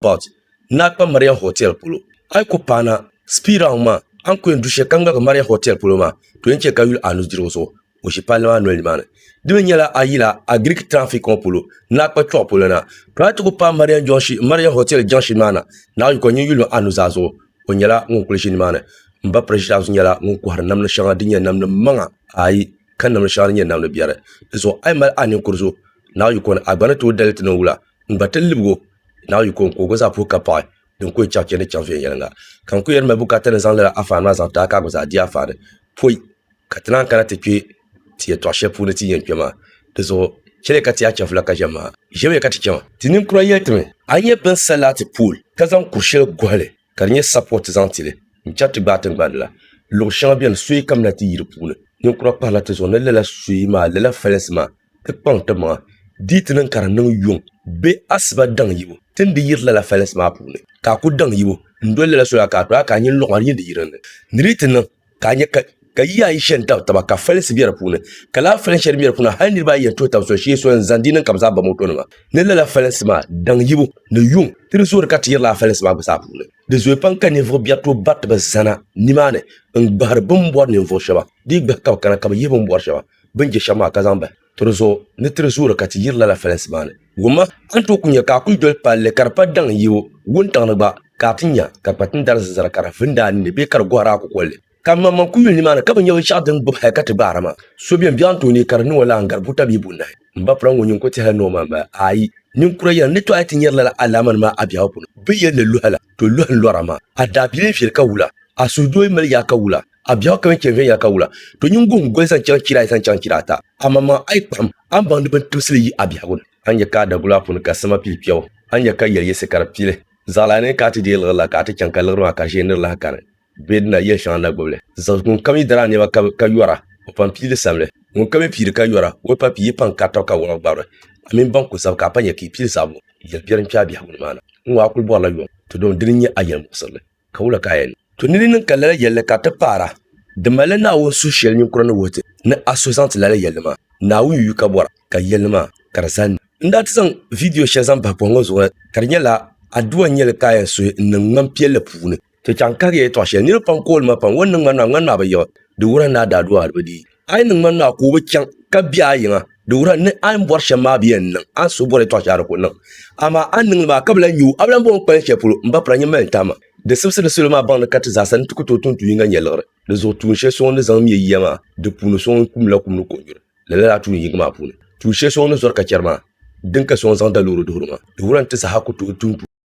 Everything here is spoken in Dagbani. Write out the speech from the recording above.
But, naa kpa Marian Hotel polo. A yi ku paana, speed round maa, a ni ku yɛn du shɛli ka ŋmaligi Marian Hotel polo maa, to yɛn chɛ ka yuli a nudirigu zuɣu, o ʒi palli maa noli nimaani. Di mi nyɛla a yila a Greek traffic ŋɔ polo, naa kpa kpiɔɣu polo na. To a yi ti ku paai Marian junction, Marian Hotel junction maa na, naa yukɔ nyin yuli a nuzaa zuɣu, o nyɛla ŋun kuli ʒi nimaani. M ba Precious nyɛla ŋun kɔhiri namdi shɛŋa din nyɛ namdi maŋa ayi ka namdi shɛŋa din nyɛ namdi biɛri. Di zuɣu a yi mali a ninkuri zuɣu, naa yukɔ ni a gba ni tooi dali ti niŋ wula, n gba ti libigi o. Naawuni yiko n ku o gba zaa puhi ka paɣi din ku o chaŋ chɛndi chaŋ viɛnyɛliŋga ka n ku yɛn mali bukaata ni zaŋ lala anfaani maa zaŋ taai ka a gba zaa di anfaani pɔi ka ti naan kana ti kpɛ ti yɛtɔɣ shɛli puuni ti ni yɛn kpɛ maa di zuɣu chɛliya ka ti yaa chɛfula ka ʒɛmi maa ʒɛmiya ka ti chɛma ti ninkura yɛli ti mi a ni nyɛ bɛn sa laati pool ka zaŋ kur shɛli gɔhili ka di nyɛ sapɔt zaŋ ti li n-chɛri ti gbaai tiŋgbani la. Luɣ shɛŋa beni soyi kamina ti yi di puuni. Ninkura kpahirila ti zuɣu ni lala soyi maa, lala falinsi maa, ti kpaŋ ti maŋa di yi ti niŋ ka di niŋ yuŋ bee asiba daŋ yibu ti ni di yiri lala falinsi maa puuni. Ka a ku daŋ yibu n-doli lala soya ka a tɔya ka a nyin luɣ ma di nyin di yiri n ni di yi ti niŋ. ka a nyɛ ka ka yiya ayi shɛn tabi taba ka falinsi bɛ di puuni ka laa falin shɛli bɛ di puuni hali niraba ayi yɛn tuhi tabi so shee so n zaŋ di niŋ ka bi zaa ba moto nima ni lala falinsi maa daŋ yibu ni yuŋ ti di zoori ka ti yiri laa falinsi maa gba zaa puuni di zooi pam ka ninvuɣu biɛri tooi bari ti bi zana nimaani n gbahari bin bɔri ninvuɣu shɛba di yi gbahi ka bi kana ka bi yihi bin bɔri shɛba bin je shɛba maa ka zaŋ bahi Tiri zuɣu ni tiri zuuri ka ti yiri lala fɛlɛnsi maa ni. Wumma, a ni tooi ku nya ka a kuli doli palli ka di pa daŋ n-yi o wuntaŋ ni gba, ka a ti nya ka kpatin dari zinzara ka di vindi a ninni bee ka di gɔhiri a kukolli. Ka m maŋmaŋ ku yuli nimaani ka bi nya binshɛɣu din gbibi hal ka ti gbaara maa. So biɛni biɛɣu n-tooi neei ka di niŋ o lala n-gari buta bee bunahi. M ba piraŋ ŋɔ nyin ku tɛhila ni o ma m-ba? Aai! Ninkura yɛla, n ni tɔɣi ti nyari lala alaamani maa a biɛhigu puuni. Bɛ yɛli li lɔhila, to lɔhi n-lɔra maa. A daabilii viɛli ka wula, a suhudoo yi mali yaa ka wula. A biɛɣu kami chɛ viɛnyɛla ka wula, to nyin guhim goli zaŋ chaŋ chira ayi zaŋ chaŋ chira ata. Amaŋmaŋ a yi kpuɣim, a ni baŋdi bini tibisili yi a biɛhigu ni. A ni nya ka a dagula a puuni ka sima pili kpiɛbu, a ni nya ka yɛli yiɣisi ka di pili. Zaɣilaa ni ka a ti deei liɣiri la, ka a ti chaŋ ka liɣiri maa ka ʒee ni di lahi kani. Bɛ dina, yɛli shɛŋa na gbibi li. Zaŋ ŋunkam yi dari a nɛma ka ka yɔra, o pam pii li samli. Ŋunkam yi piiri ka yɔra, o pa pii, yi pam kari taba ka wɔɣi gbabiri. A mini ban kul zab ka a pa nya ka yi pili zaɣibu, yɛli biɛri n-kpe a biɛhigu ni maa na. N ŋɔ a kuli bɔrila yom, ti dom dini n-nyɛ a yɛlimuɣisirili. Ka wula ka a yɛn to ni di niŋ ka lala yɛlli ka ti paara? Di malila Naawuni suhu shɛli ninkura ni wuhi ti ni a suhi zaŋ ti lala yɛlli maa. Naawuni yuyu ka bɔra ka yɛlli maa ka di zani. N daa ti zaŋ vidiyo shɛli zaŋ bahi pɔhim ŋɔ zuɣu la, ka di nyɛla, Addua N-nyɛli Ka A Yɛn Suhi N-Niŋ Ŋman Piɛlli Puuni. Ti chaŋ kahigiya yɛtɔɣ shɛli niriba pam kooli ma pam, Ŋɔ n-niŋ ŋmanima, ŋmanima bi yiɣi, di wuhiri ni a daa du a hali bi dii. A yi niŋ ma naa ka o bi chaŋ ka bɛ a yiŋa, di wuhira ni a ni bɔri shɛm maa bi yɛn niŋ. A ni suhu bɔri yɛtɔɣ shɛli a di ku niŋ. Amaa a ni niŋ li maa ka bi lahi nya o, a bi lahi bɔŋ o kpalim shɛli polo, m ba pira nyin mali n tahima. Di sibisi di salo maa baŋdi ka ti zaasa ni ti ku tooi tum tuun yiŋga nyɛliɣiri. Di zuɣu tuun shɛli soŋ n ni zaŋ me yiya maa, di puuni soŋ n kumdila kum ni kɔnyuri. Lala daa tuun yingi maa puuni. Tuun shɛli soŋ n ni zɔri ka chɛri maa, din ka soŋ n zaŋ da loori duhiri maa. Di wuhira ni ti saha ku tooi tum tuun.